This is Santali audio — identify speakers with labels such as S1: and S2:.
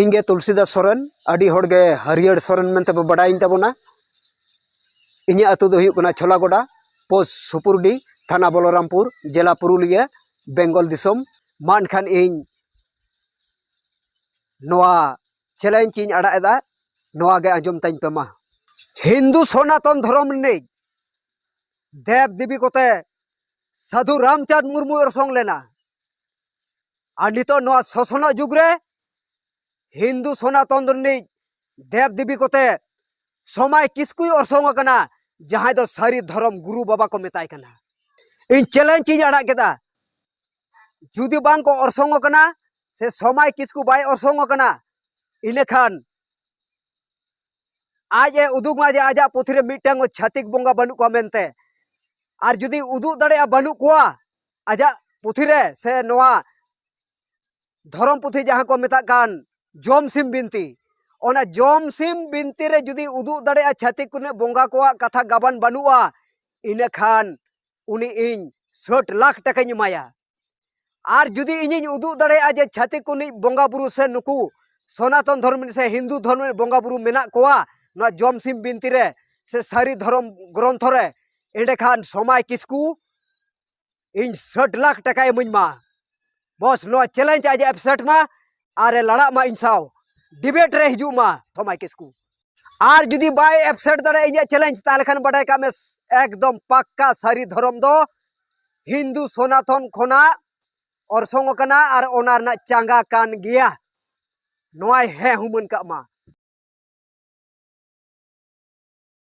S1: ᱤᱧ ᱜᱮ ᱛᱩᱞᱥᱤᱫᱟᱥ ᱥᱚᱨᱮᱱ ᱟᱹᱰᱤ ᱦᱚᱲ ᱜᱮ ᱦᱟᱹᱨᱭᱟᱹᱲ ᱥᱚᱨᱮᱱ ᱢᱮᱱᱛᱮ ᱵᱚ ᱵᱟᱰᱟᱭᱤᱧ ᱛᱟᱵᱚᱱᱟ ᱤᱧᱟᱹᱜ ᱟᱹᱛᱩ ᱫᱚ ᱦᱩᱭᱩᱜ ᱠᱟᱱᱟ ᱪᱷᱚᱞᱟ ᱜᱚᱰᱟ ᱯᱳᱥᱴ ᱥᱩᱯᱩᱨᱰᱤ ᱛᱷᱟᱱᱟ ᱵᱚᱞᱚᱨᱟᱢᱯᱩᱨ ᱡᱮᱞᱟ ᱯᱩᱨᱩᱞᱤᱭᱟᱹ ᱵᱮᱝᱜᱚᱞ ᱫᱤᱥᱚᱢ ᱢᱟ ᱮᱱᱠᱷᱟᱱ ᱤᱧ ᱱᱚᱣᱟ ᱪᱮᱞᱮᱧᱡᱽ ᱤᱧ ᱟᱲᱟᱜ ᱮᱫᱟ ᱱᱚᱣᱟ ᱜᱮ ᱟᱸᱡᱚᱢ ᱛᱟᱹᱧ ᱯᱮ ᱢᱟ ᱦᱤᱱᱫᱩ ᱥᱚᱱᱟᱛᱚᱱ ᱫᱷᱚᱨᱚᱢ ᱨᱤᱱᱤᱡ ᱫᱮᱵ ᱫᱮᱵᱤ ᱠᱚᱛᱮ ᱥᱟᱹᱫᱷᱩ ᱨᱟᱢᱪᱟᱸᱫᱽ ᱢᱩᱨᱢᱩ ᱚᱨᱥᱚᱝ ᱞᱮᱱᱟ ᱟᱨ ᱱᱤᱛᱚᱜ ᱱᱚᱣᱟ ᱥᱚᱥᱚᱱᱟᱜ ᱡᱩᱜᱽ ᱨᱮ ᱦᱤᱱᱫᱩ ᱥᱚᱱᱟᱛᱚᱱ ᱨᱤᱱᱤᱡ ᱫᱮᱵ ᱫᱮᱵᱤ ᱠᱚᱛᱮ ᱥᱚᱢᱟᱭ ᱠᱤᱥᱠᱩᱭ ᱚᱨᱥᱚᱝ ᱟᱠᱟᱱᱟ ᱡᱟᱦᱟᱸᱭ ᱫᱚ ᱥᱟᱹᱨᱤ ᱫᱷᱚᱨᱚᱢ ᱜᱩᱨᱩ ᱵᱟᱵᱟ ᱠᱚ ᱢᱮᱛᱟᱭ ᱠᱟᱱᱟ ᱤᱧ ᱪᱮᱞᱮᱧᱡᱽ ᱤᱧ ᱟᱲᱟᱜ ᱠᱮᱫᱟ ᱡᱩᱫᱤ ᱵᱟᱝ ᱠᱚ ᱚᱨᱥᱚᱝ ᱟᱠᱟᱱᱟ ᱥᱮ ᱥᱚᱢᱟᱭ ᱠᱤᱥᱠᱩ ᱵᱟᱭ ᱚᱨᱥᱚᱝ ᱟᱠᱟᱱᱟ ᱤᱱᱟᱹᱠᱷᱟᱱ ᱟᱡ ᱮ ᱩᱫᱩᱜ ᱢᱟ ᱡᱮ ᱟᱡᱟᱜ ᱯᱩᱛᱷᱤ ᱨᱮ ᱢᱤᱫᱴᱟᱝ ᱪᱷᱟᱹᱛᱤᱠ ᱵᱚᱸᱜᱟ ᱵᱟᱹᱱᱩᱜ ᱠᱚᱣᱟ ᱢᱮᱱᱛᱮ ᱟᱨ ᱡᱩᱫᱤ ᱩᱫᱩᱜ ᱫᱟᱲᱮᱭᱟᱜᱼᱟ ᱵᱟᱹᱱᱩᱜ ᱠᱚᱣᱟ ᱟᱡᱟᱜ ᱯᱩᱛᱷᱤ ᱨᱮ ᱥᱮ ᱱᱚᱣᱟ ᱫᱷᱚᱨᱚᱢ ᱯᱩᱛᱷᱤ ᱡᱟᱦᱟᱸ ᱠᱚ ᱢᱮᱛᱟᱜ ᱠᱟᱱ ᱡᱚᱢ ᱥᱤᱢ ᱵᱤᱱᱛᱤ ᱚᱱᱟ ᱡᱚᱢ ᱥᱤᱢ ᱵᱤᱱᱛᱤ ᱨᱮ ᱡᱩᱫᱤ ᱩᱫᱩᱜ ᱫᱟᱲᱮᱭᱟᱜᱼᱟ ᱪᱷᱟᱹᱛᱤᱠ ᱠᱚᱱᱮ ᱵᱚᱸᱜᱟ ᱠᱚᱣᱟᱜ ᱠᱟᱛᱷᱟ ᱜᱟᱵᱟᱱ ᱵᱟᱹᱱᱩᱜᱼᱟ ᱤᱱᱟᱹ ᱠᱷᱟᱱ ᱩᱱᱤ ᱤᱧ ᱥᱟᱹᱴ ᱞᱟᱠᱷ ᱴᱟᱠᱟᱧ ᱮᱢᱟᱭᱟ ᱟᱨ ᱡᱩᱫᱤ ᱤᱧᱤᱧ ᱩᱫᱩᱜ ᱫᱟᱲᱮᱭᱟᱜᱼᱟ ᱡᱮ ᱪᱷᱟᱹᱛᱤᱠ ᱠᱚᱱᱤᱡ ᱵᱚᱸᱜᱟ ᱵᱩᱨᱩ ᱥᱮ ᱱᱩᱠᱩ ᱥᱚᱱᱟᱛᱚᱱ ᱫᱷᱚᱨᱢ ᱥᱮ ᱦᱤᱱᱫᱩ ᱫᱷᱚᱨᱢ ᱵᱚᱸᱜᱟ ᱵᱩᱨᱩ ᱢᱮᱱᱟᱜ ᱠᱚᱣᱟ ᱱᱚᱣᱟ ᱡᱚᱢ ᱥᱤᱢ ᱵᱤᱱᱛᱤ ᱨᱮ ᱥᱮ ᱥᱟᱹᱨᱤ ᱫᱷᱚᱨᱚᱢ ᱜᱨᱚᱱᱛᱷᱚ ᱨᱮ ᱮᱸᱰᱮᱠᱷᱟᱱ ᱥᱚᱢᱟᱭ ᱠᱤᱥᱠᱩ ᱤᱧ ᱥᱟᱴ ᱞᱟᱠᱷ ᱴᱟᱠᱟᱭ ᱤᱢᱟᱹᱧ ᱢᱟ ᱵᱚᱥ ᱱᱚᱣᱟ ᱪᱮᱞᱮᱧᱡᱽ ᱟᱡ ᱮᱯᱥᱮᱴ ᱢᱟ ᱟᱨᱮ ᱞᱟᱲᱟᱜ ᱢᱟ ᱤᱧ ᱥᱟᱶ ᱰᱤᱵᱮᱴ ᱨᱮ ᱦᱤᱡᱩᱜ ᱢᱟ ᱥᱚᱢᱟᱭ ᱠᱤᱥᱠᱩ ᱟᱨ ᱡᱩᱫᱤ ᱵᱟᱭ ᱮᱯᱥᱮᱴ ᱫᱟᱲᱮᱭᱟᱜᱼᱟ ᱤᱧᱟᱹᱜ ᱪᱮᱞᱮᱧᱡᱽ ᱛᱟᱦᱚᱞᱮ ᱠᱷᱟᱱ ᱵᱟᱰᱟᱭ ᱠᱟᱜ ᱢᱮ ᱮᱠᱫᱚᱢ ᱯᱟᱠᱠᱟ ᱥᱟᱹᱨᱤ ᱫᱷᱚᱨᱚᱢ ᱫᱚ ᱦᱤᱱᱫᱩ ᱥᱚᱱᱟᱛᱚᱱ ᱠᱷᱚᱱᱟᱜ ᱚᱨᱥᱚᱝ ᱟᱠᱟᱱᱟ ᱟᱨ ᱚᱱᱟ ᱨᱮᱱᱟᱜ ᱪᱟᱸᱜᱟ ᱠᱟᱱ ᱜᱮᱭᱟ ᱱᱚᱣᱟᱭ ᱦᱮᱸ ᱦᱩᱢᱟᱹᱱ ᱠᱟᱜ ᱢᱟ